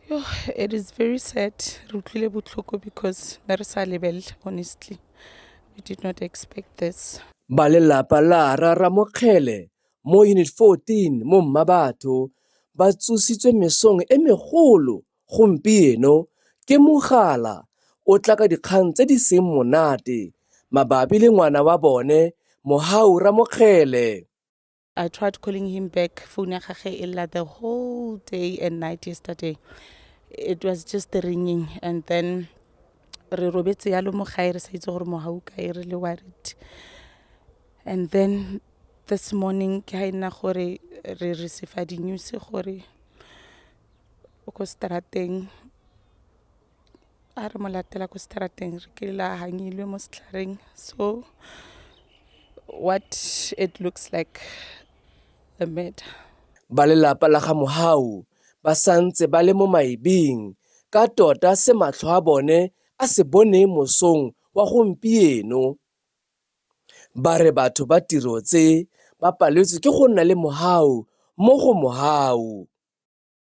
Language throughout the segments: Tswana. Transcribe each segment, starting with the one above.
Yo, it is very sad. Re utlwile botlhoko because ne re sa lebelle honestly. We did not expect this. Ba lelapa la Rra Ramokgele mo Unit 14 mo Mmabatho ba tsositswe mesong e megolo gompieno ke mogala o tla ka dikgang tse di seng monate mabapi le ngwana wa bone Mohau Ramokgele. I tried calling him back phone ya gage e lla the whole day and night yesterday it was just the ringing and then re robetse yalo mo gae re sa itse gore mogau kae re le worried and then this morning ke ga e nna gore re receive di-news gore o ko strateng a re mo latela ko straateng re ke la hangilwe mo setlhareng so what it looks like a murder ba lelapa la ga mohau ba santse ba le mo maebeng ka tota se matlho a bone a se bone mosong wa gompieno ba re batho ba tiro tse ba paletswe ke go nna le mohau mo go mohau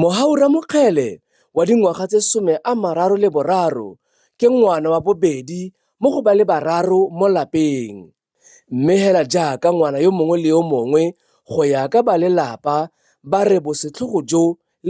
Mohau Ramokgele wa dingwaga tse some a mararo le boraro ke ngwana wa bobedi mo go ba le bararo mo lapeng. Mme hela jaaka ngwana yo mongwe le yo mongwe go ya ka ba lelapa ba re bosetlhogo jo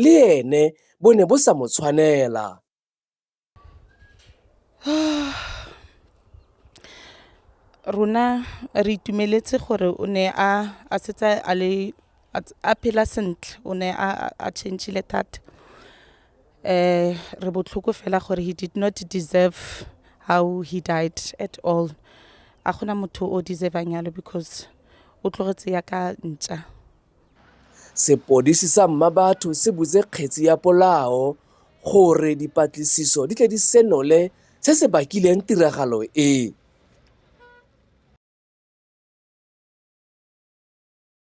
le ene bo ne bo sa mo tshwanela. rona re itumeletse gore o ne a a setse a le a ts- a phela sentle o ne a a- a changile thata eh re botlhoko fela gore he did not deserve how he died at all a gona motho o deservang yalo because o tlogetse ya ka ntša Sepodisi sa Mmabatho se butse kgetsi ya polao gore dipatlisiso di tle di senole se se bakileng tiragalo e.